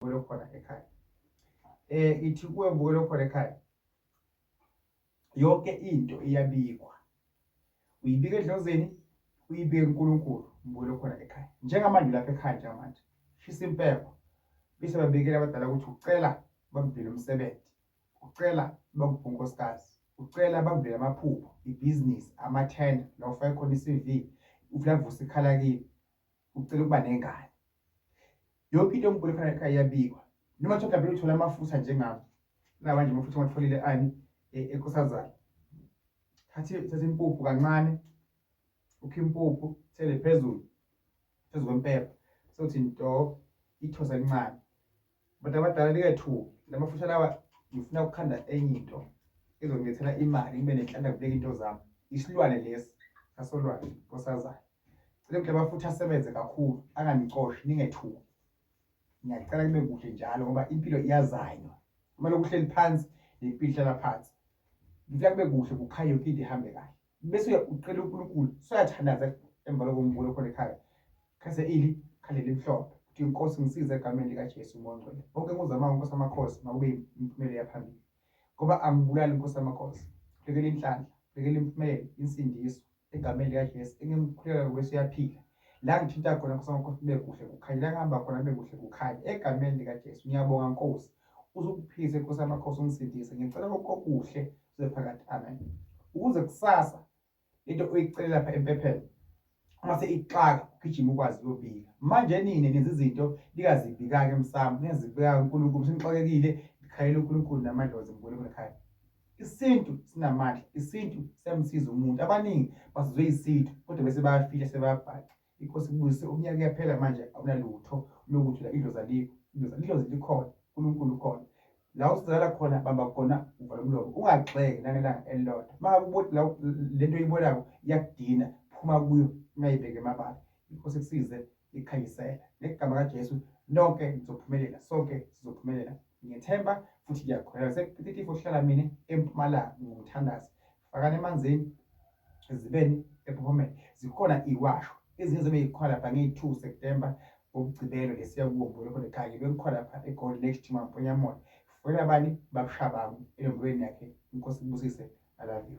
ubukele khona ekhaya eh ithi kuwe ubukele khona ekhaya yonke into iyabikwa uyibika edlozeni uyibike uNkulunkulu ubukele khona ekhaya njengamanje lapha ekhaya njengamanje shisa impepho bese babikela abadala ukuthi ucela bakuvele umsebenzi ucela bakuphe unkosikazi ucela bakuvele amaphupho ibhizinisi amathenda la ufake khona i-cv ufuna kuvusa ikhala kini ucela ukuba nengane yonke into yomguli khona ekhaya iyabikwa noma kuthiwa mhlawumbe uthole amafutha njengami namanje amafutha ngiwatholile ani e- enkosazana thathe thathe impuphu kancane ukhe impuphu thele phezulu phezu kwempepha sothi nto ithosa elincane Abantu abadala nikethuki namafushane awa ngifuna ukukhanda enye into ezongilethela imali ngibe nenhlanda kubeka into zami isilwane lesi sasolwane nkosazayo cela ukuthi abafutha asebenze kakhulu anganixoshi ningethuki ngiyacela kube kuhle njalo ngoba impilo iyazanywa uma lokuhleli phansi nempilo ihlala phansi ngifuna kube kuhle kukhanye yonke into ihambe kahle bese ucela uNkulunkulu soyathandaza emva lokumbula khona ekhaya khase ili khale limhlophe kuthi inkosi ngisize egameni likaJesu mongcwele bonke kuzamayo inkosi amakhosi makube imphumela yaphambili ngoba angibulali inkosi amakhosi lekele inhlanhla lekele impumelelo insindiso egameni likaJesu engimkhulela ngokweso yaphila la ngithinta khona Nkosi wamakhosi kube kuhle kukhanye la ngihamba khona kube kuhle kukhanye egameni likaJesu ngiyabonga Nkosi uzukuphilise Nkosi yamakhosi ungisindise ngicela konke okuhle kuze phakathi amen ukuze kusasa into uyicele lapha empepheni uma seyixaka ugijima ukwazi uyobika manje nini nenza izinto lingazibikaki emsamo lingazibikaki unkulunkulu senixakekile ngikhalela unkulunkulu namadlozi ngibule kunekhaya isintu sinamandla isintu siyamsiza umuntu abaningi basizwe isintu kodwa bese bayafihla sebabhaca inkosi kubuyise umnyaka uyaphela manje awunalutho lokuthi la idlozi alikho idlozi idlozi likhona unkulunkulu ukhona la usizakala khona bamba khona uvala umlomo ungagxeki nangelanga elilodwa uma ubona la le nto oyibonayo iyakudina phuma kuyo ungayibheki emabala inkosi kusize likhanyisela ngegama kaJesu nonke nizophumelela sonke sizophumelela ngethemba futhi ngiyakholelwa sekupititifo hlala mina empumalanga ngumthandazi fakani emanzini ezibeni ephomeni zikhona iwasho ezinye zibe yikhona lapha ngeyi-two september ngokugcibelo lesiya kuwo mbolokole kanye bengikhona lapha egoli next to mamponyamona fuela abanye babushabangu elembulweni yakhe inkosi kubusise i love you